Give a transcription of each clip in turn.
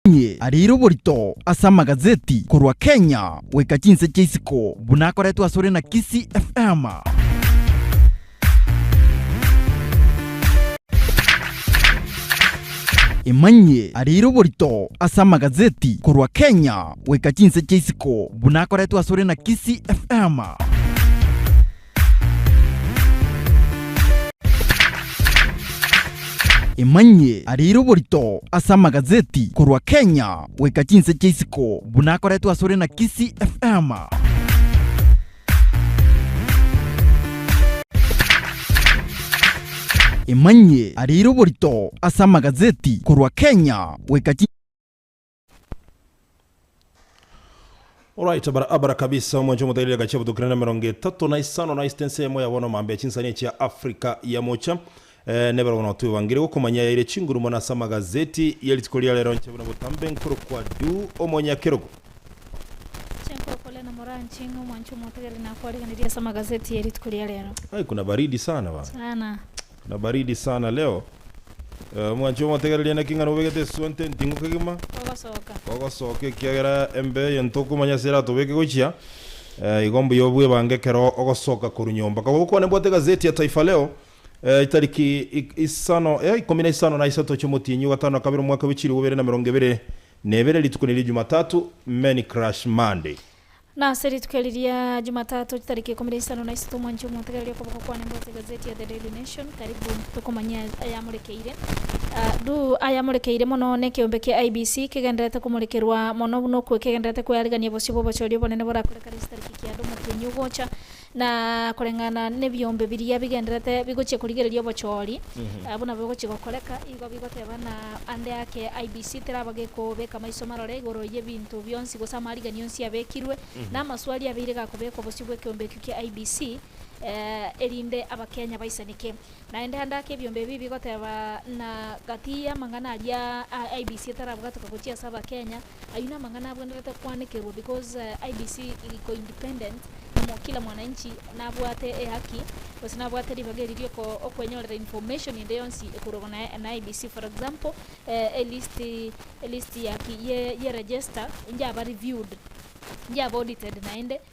Omokuani ariire oborito ase amagazeti korwa Kenya goika chinse chia isiko buna akoretwe asore na Kisii FM. Imanyie ariire oborito ase amagazeti korwa Kenya goika chinse chia isiko buna akoretwe asore na Kisii FM. Emanyie arire oborito ase amagazeti korwa Kenya goika chinse chia isiko buna akoretwe asore na Kisii FM. Emanyie arire oborito ase amagazeti korwa Kenya goika chi Alright, abara, abara kabisa omwancho omotairia eka chia botokire na merongo etato na isano na isita ense yamo yabona mambe ya chinsani echia Africa ya mocha eh, nebero bono twebangire gokomanya yaire chinguru mona asa magazeti ya rituko ria rero nche buna botambe nkorokwa du omonyakerogo Chenkorokore na moranche ng'a omwancho omotagere nakwareganeria ase amagazeti ya rituko ria rero. Ai, kuna baridi sana bana sana Na baridi sana leo. Eh, mwanche omotegereria naki ng'ana obegete eswa nte ntingu kegima Ogosoka. kogosoka ekiagera embe eye ntokumanya ase eratobeke gochia eh, igo mbuya obwebange ekero ogosoka korwa nyomba kaba gokwane bwate egazeti ya taifa leo eh, itariki ik- isano eh, ikomi na isano na isato chiomotienyi ogatano na kabere omwaka bw'echiribu bibere na merongo ebere na ebere rituko nerio jumatatu many crash monday Na ase rituko eri ria Jumatatu chitariki ikomi na isano na isato mwanche omotegereria okoboko kwane mbwate egazeti ya The Daily Nation, karibu tokomanye ayamorekeire. Adu ayamorekeire mono nekeombe kia IEBC kegendererete komorekerwa mono buna okwo kegendererete kwearigania bosio bw'obochori obonene borakore kare ase tariki kianda omotienyi ogocha Na koreng'ana nebiombe biria bigenderete bigochia korigereria obochoori, abwo nabo bigochia gokoreka, igo bigoteba ng'a ande ake IEBC teraba gekobeka maiso marore igoro y'ebinto bionsi gose amarigeria onsi abekirwe, na amaswali abeire gakobekwa bosio bw'ekeombe ekio kia IEBC, erinde Abakenya baisaneke. Naende ande ake ebiombe ebi bigoteba ng'a gati y'amang'ana aria IEBC etarabwateka gochia ase Abakenya, Ayio namang'ana abwenerete koanekerwa because IEBC iko independent na kila mwananchi nabwate ehaki gose nabwate ribaga eri rioko okwenyorera information ende yonsi ekorwa na na IEBC for example elist elist ya ki ye register injaba reviewed injaba audited naende.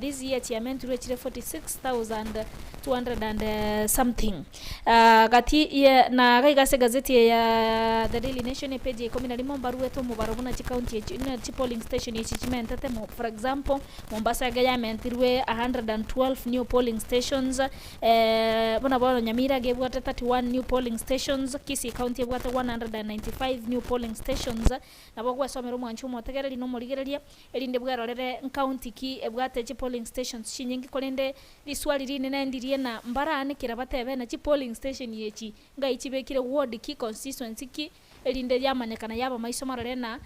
this year chiamenturwe chire 46,200 and something gati ye na gaiga ase egazeti eye ya The Daily Nation epage ya ikomi na rimo mbaruete omobaro buna chicounty echi na chipolling station echi chimentete mo for example Mombasa iga yamentirwe 112 new polling stations eh, buna bono Nyamira iga ebwate 31 new polling stations Kisii county ebwate 195 new polling stations nabo gwesomera omwancho omotegereri na omorigereria Erinde bwerorere nkaunti ki ebwate chipolling stations chinyinge korende riswali rinene ndirie na mbaraan kera batebe na chipolling station echi ngai chibekire ward ki constituency ki erinde yamanyekana yaba maiso marore na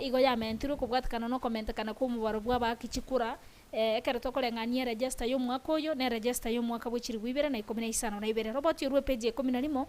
igo yamentirwe kobwatekana nokomentekana kwomobaro bwabaakichi kura ekero tokoreng'ania eregesta yomwaka oyo neregesta yomwaka bwe chilifu ibere na ikomi na isano na ibere. Roboti orwe epeji ya ikomi na rimo.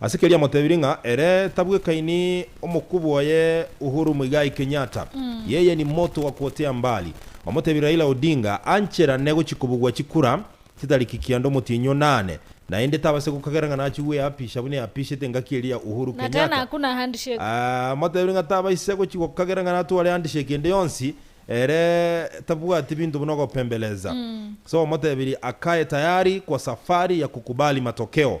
Ase keria amotebirie ng'a ere tabwekaini omokubwa oye Uhuru Muigai Kenyatta, yeye ni motu wa kuotea mbali. Bamotebirie Raila Odinga ancherane gochia kobugwa chikura chitariki kianda omotienyi o nane, naende tabase gokagera ng'a nachia gweapisha buna eapishete engaki eria ya Uhuru Na tena Kenyatta. hakuna handshake. Amotebirie ng'a tabaisa gochia gokagera ng'a natware handshake ende yonsi, ere tabwati binto buna ogopembeleza. Ase omotebirie akae tayari kwa safari ya kukubali matokeo.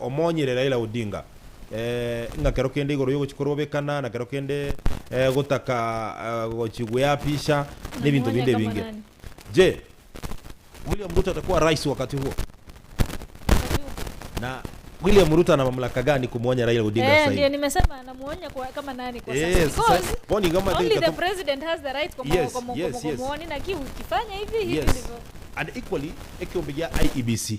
Omonyire Raila Odinga ng'a kero kende igoro yogochi korobekana na kero kende gotaka gochi gweapisha na ebinto binde ebinge. Je, William Ruto atakuwa rais wakati huo? Na William Ruto ana mamlaka gani kumwonya Raila Odinga sasa hivi? Eh, sasa bono iga mwatigete ko- Yes, yes, yes. Yes. And equally, ekeombe gia IEBC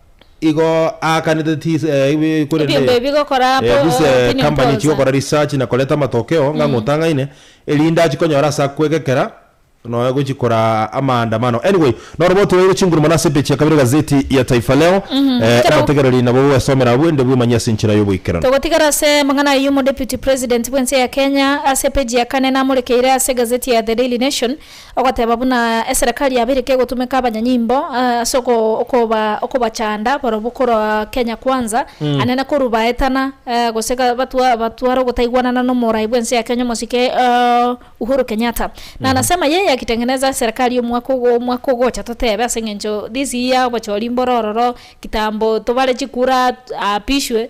igo aakanete ti ase eh, ibe- korende Ebinto ebi bigokora eh, po- gose eh, opinion company polls, chigokora research na koreta amatokeo ng'a ng'otang'aine, erinde achie konyora ase akwegekera nonya gochia kora amaandamano. Anyway, noro botoeire chinguru mono ase epage ya kabere egazeti ya Taifa Leo. Mhm, Eh, ekero- omotegereri nabo gwesomera abwo ende bwemanyie ase enchera y'oboikeranu. Togotigara ase amang'ana ayio omodeputy president bw'ense ya Kenya ase epeji ya kane namorekeire ase egazeti ya The Daily Nation, Ogoteba buna eserekari ya Abirika egotumeka abanyanyimbo ase okobachanda barobwo korwa Kenya Kwanza, anene korwa baetana gose batwara ogotaigwanana n'omorai bw'ense ya Kenya omosike Uhuru Kenyatta. Nanasema yeye akitengeneza eserekari omwaka omwaka ogocha totebe ase engencho this year obochori mbore ororo kitambo tobare chikura aapishwe.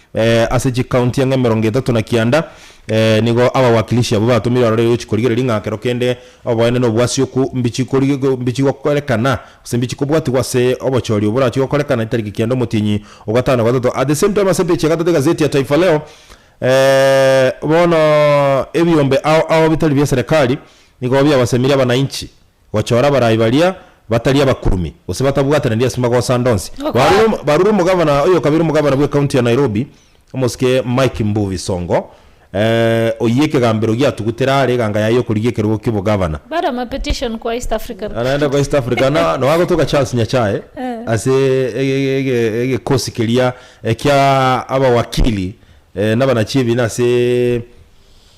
Ase chikaunti ang'e emerongo etato na kianda nigo abawakilishi abwo batomire abaroreiri gochia korigereria ng'a ekero kende oboene na obwasioku mbichi gokorekana, gose mbichi kobwatigwa ase obochori obwo borachie gokorekana etariki kianda omotienyi o gatano na gatato. At the same time ase epeji ya gatato egazeti ya Taifa Leo, bono ebiombe ao ao bitari bia serekari nigo biabasemirie abanainchi gochora abarai baria batari abakurumi, gose batabwataneria ase magoso ande onsi. Barure barure omogavana oyokabere omogavana bw'ekaunti ya Nairobi, omosike Mike Mbuvi Songo, oyio ekegambero giatugutera aare eganga yaye y'okorigia ekerogo ki'obogavana. Bara ama petition kwa East African. Aya naende kwa East Africa na nao agotoka Charles Nyachae ase egekosi keria kia abawakili nabanachiebina ase.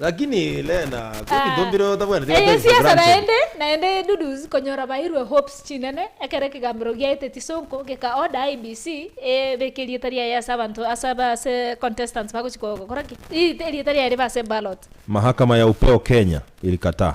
Lakini Lena, kio ginto mbire otabwenereti Eye goteebia siasa Branson? naende naende Dudus konyora bairwe hopes chinene ekero ekegambero giaete chisonko geka order IEBC ebeke erieta riaye ase abanto ase aba ase contestants bagochi kogora ki? Ii erieta riaye ribe ase ballot. Mahakama ya Upeo Kenya ilikataa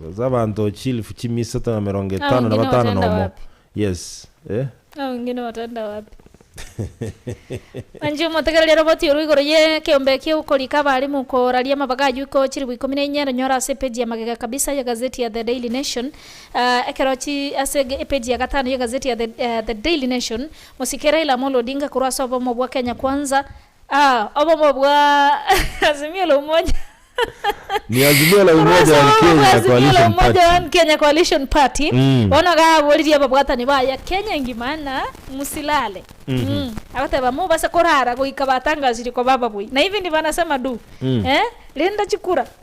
Gose abanto chielfu chimia isato na emerongo Hao etano na wengine batano na wataenda omo. wapi? Yes. Eh? Hao wengine wataenda wapi? Manche omotegereria roboti orwo igoro y'ekeombe ekia okorika abaalimu koraria amabaga aywo ko chiribu ikomi na inya eranyora ase epeji ya magega kabisa ye gazeti ya The Daily Nation. Ah, ekero chi ase ege- epeji ya gatano ye gazeti ya The, eh, The Daily Nation, mosike Raila Amolo Odinga korwa ase obomo bwa Kenya Kwanza, Ah, obomo bwa Azimio la Umoja. Ni Azimio la Umoja Korwa ase and obomo bwa Kenya Azimio la Coalition Umoja Party. and Kenya Coalition Party, Mm. bono iga aboririe ababwatani baye Kenya engima ng'a musilale. Mm. Agoteba, Mobase korara goika batangasirie koba ababui. Na hivi ndivyo anasema du. Mm. Eh, rinda chikura.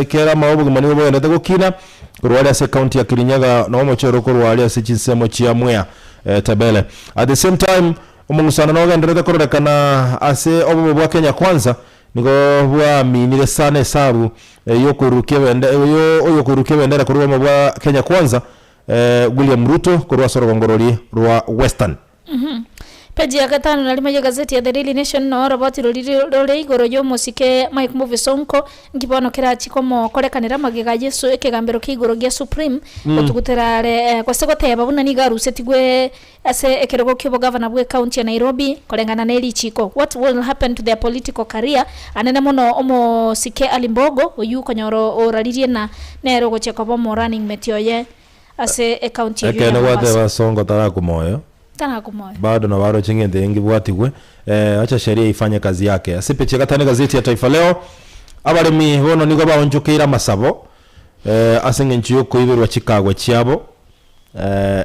Ekero amao obogima nigo bogenderete gokina korwa aria ase county ya Kirinyaga na omochie oro korwa aria ase chinsemo chia Mwea Tebele at the same time omong'usano na ogenderete kororekana ase obobe bwa Kenya Kwanza nigo bwaminire sana esabu y'okorurukia ebende y'okorurukia ebendera korwa obomo bwa Kenya Kwanza William Ruto korwa ase orogongo rorie rwa Western. Peji ya gatano na rimo y'egazeti ya The Daily Nation noo oroboti roriri rore igoro y'omosike Mike Mbuvi Sonko, nki bono kerachie komokorekanera magega a Yesu ekegambero kia igoro gia Supreme gotugutera are, gose goteba buna nigo arusetigwe ase ekerogo ki'obogavana bw'ecounty ya Nairobi koreng'ana nerichiko. What will happen to their political career? Anene mono omosike Ali Mbogo oyio okonyora oraririe na nere ogochia koba omo running mate oye. ase ecounty eyio ya Ekeene Mombasa. gwateeba Songo tarakwa moyo. Tarakwa moyo. Bado nabo aro ching'iti engi bwatigwe eh, acha sheria ifanye kazi yake. Ase pechi ya gatano egazeti ya Taifa Leo, abaremi bono nigo baonchokeire amasabo eh, ase eng'encho y'okoiberwa chikagwe chiabo eh,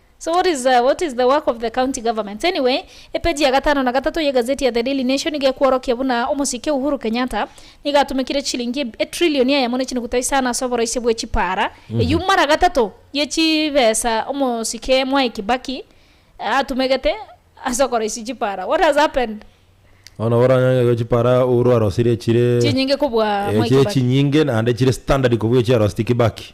So what is what is the work of the county governments? Anyway, epeji ya gatano na gatato y'egazeti ya The Daily Nation nigo ekworokia buna omosike Uhuru Kenyatta nigo atumekire chilingi etrilioni eyemo ne chinukuta isano ase oboroisia bwe chipaara. Eyio mara gatato ye chibesa omosike Mwai Kibaki atumegete ase okoroisia chipaara. What has happened? Bono oranyange iga chipaara Uhuru arosirie chire Chinyinge kobua Mwai Kibaki. chinyinge naende chire standard kobua echiaroseti Kibaki.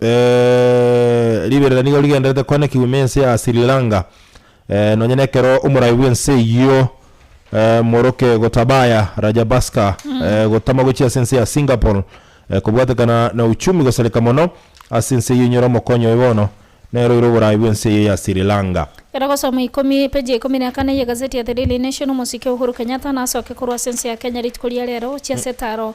Eh, riberera nigo rigenderete koanekigwa ime ense ya Sri Lanka. Eh, nonye nekero omoraai bw'ense eyio eh, moroke Gotabaya Rajabhaska eh, gotama gochia ase ense ya Singapore eh, kobwatekana na uchumi gosareka mono ase ense eyio inyora omokonyi oye bono nere oire oboraai bw'ense eyio ya Sri Lanka. Gera gosoma ikomi, peji ya ikomi na kane y'egazeti ya The Daily Nation, Omosike Uhuru Kenyatta nasoke korwa ase ense ya Kenya rituko ria rero gochia ase etaro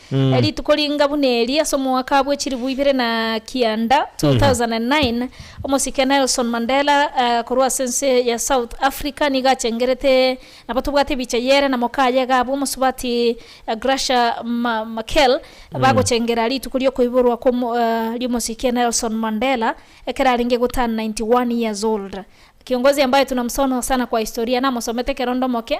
Rituko ringa buna eri, ase omwaka bwe chilifu ibere na kianda, 2009, omosike Nelson Mandela korwa ase ense ya South Africa nigo achengerete nabo tobwate ebicha y'ere na mokaye Gabu omosubati Gracia Machel bagochengera rituko riokoiborwa ri'omosike Nelson Mandela ekero arenge goturn 91 years old. Kiongozi ambaye tunamusono sana kwa historia, namosomete ekero ndomoke.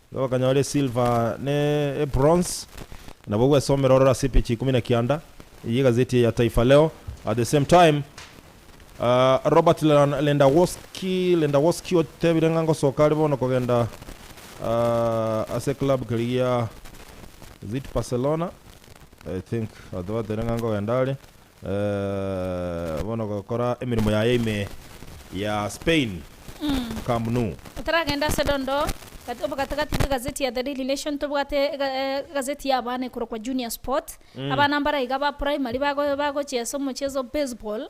Nabo bakanyora esilva na ebronze, nabo gwesomera ororo ase epeji ikomi na kianda ye egazeti eye ya Taifa Leo. At the same time, Robert Lendawoski Lendawoski otebire ng'a ngosoka are bono kogenda ase eclub keria gia, is it Barcelona? I think, batebire ng'a nkogenda are. Bono gokora emeremo yaye ime ya Spain, Camp Nou. Taragenda ase dondo gati obo gati-gati gegazeti ya The Daily Nation tobwate egazeti y'abana ekorokwa Junior Sport. Abana mbare iga ba primary bagochia ase omocheso o baseball.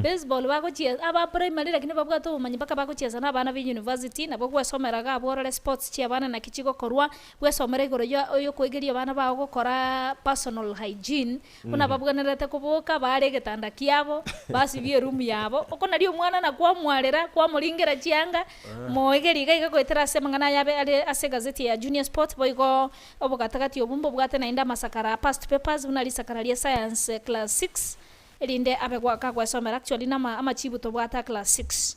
Baseball bagochia aba primary lakini babwate obomanyi mpaka bagochiesa na abana ba euniversity nabo gwesomera iga abwo orore sports chi'abana naki chigokorwa, bwesomere igoro ya okoigeria abana bao gokora personal hygiene. Buna babwenerete koboka, baare egetanda kiabo, basibie erumu yabo. Oko nario omwana na kwamwarera, kwamoringera chianga, moegeria iga iga goetera ase amang'ana aya abe are ase egazeti eye ya Junior Sports. Boigo obogatagati obwo mbobwate naende amasakara a past papers buna risakara ria Science class six, erinde abe goaka gwesomera, actually, na ama amachibu tobwate a class six.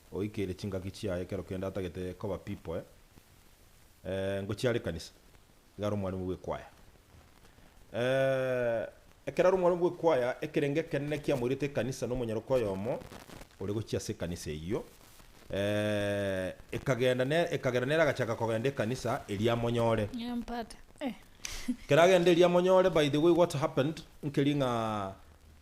Oikeire chingaki chiaye ekero kende atagete koba pipoe, eh, ngochia are ekanisa, iga are omwarimu bw'ekwaya. Eh, ekero are omwarimu bw'ekwaya, ekerengo ekenene kiamoirete ekanisa na omonyaroka oyomo ore gochia ase ekanisa eyio, eh, ekagenda ne, ekagera nere agachaka kogenda ekanisa eria amonyore. Nyampate, eh. Ekero agenda eria amonyore, by the way what happened, nkeria ng'a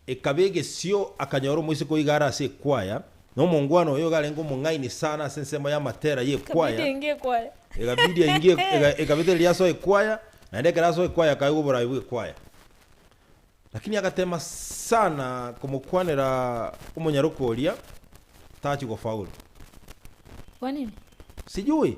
Ekaba egesio akanyora omoiseke oiga are ase ekwaya, na omongwana oye iga arenge omong'aini sana ase ensemo y'amatera Ekabidi y'ekwaya. ainge ekwaya. Ekabidi ainge ek- eka- ekabetereria asoe ekwaya, naende ekero asoe ekwaya akaigwa oboraai bw'ekwaya. Lakini agatema sana komokwanera omonyaroka oria, tachi gofaulu. Kwanini? Sijui.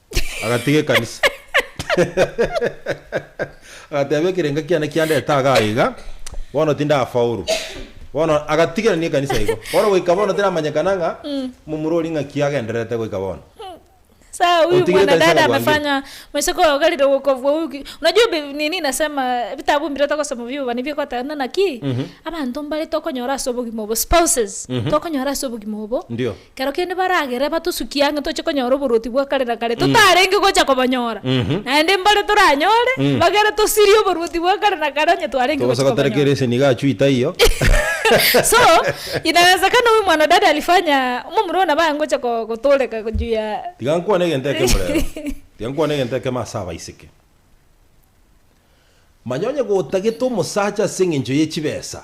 agatiga ekanisa agateba ekerenga kiane kiandete iga aiga bono tindafaulu bono agatigerania ekanisa igo bono goika bono tiramanyekana ng'a momura oria ng'a ki agendererete goika bono Sasa huyu Utigire kanisa mwanadada kakuangia. amefanya maisha kwa gari dogo kwa huyu ki- unajua bi- nini nasema vitabu mbire tokosoma vio bani viko tena naki abantu mbare tokonyora ase obogima obo spouses tokonyora ase obogima obo Ndio. Kero kende baragere batosukie ang'e toche konyora oboruoti bwa kare na kare, totarenge gocha kobonyora. Mhm. Naende mbare toranyore, Mm. bagere tosirie oboruoti bwa kare na kare onye twarenge gocha Togosoka tari kobonyora. kerese niga achwe itaiyo. So, inawezekana huyu mwanadada alifanya momura ona baya ngocha ko- kotoreka ko- juu ya Tiga nkwane egento ekemo rero. Tiga nkwane egento ekemo ase abaiseke. Manya onye gotagete omosacha ase eng'encho ye chibesa,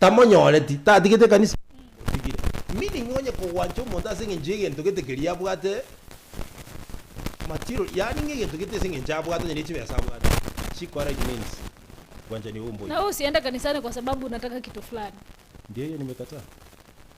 Tamonyoreti, tatigete ekanisa eye ase eng'encho otigire. Meaning onye kogwancha omonto ase eng'encho y'egento gete keria abwate, material, yaani ng'a egento gete ase eng'encho abwate onye ne chibesa abwate, chikora it means obwanchani obwo mboigo. Nawe osiende kanisani kwa sababu unataka kitu fulani. Ndio hiyo nimekataa.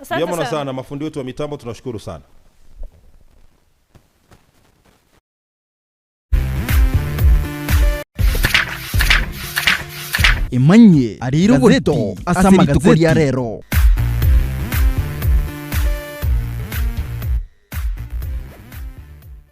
Asante Mbuya mono sana. sana mafundi wetu wa mitambo tunashukuru sana. Emanyie arire oborito ase rituko ria rero.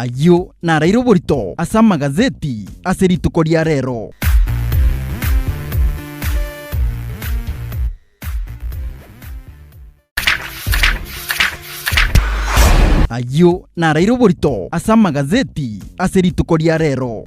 Ayio naraire oborito ase amagazeti ase rituko ria rero. Ayio naraire oborito ase amagazeti ase rituko ria rero.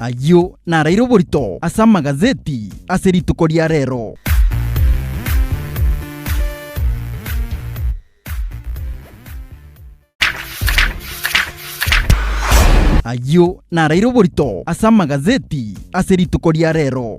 Ayio naraire oborito ase amagazeti ase rituko ria rero. Ayio naraire oborito ase amagazeti ase rituko ria rero.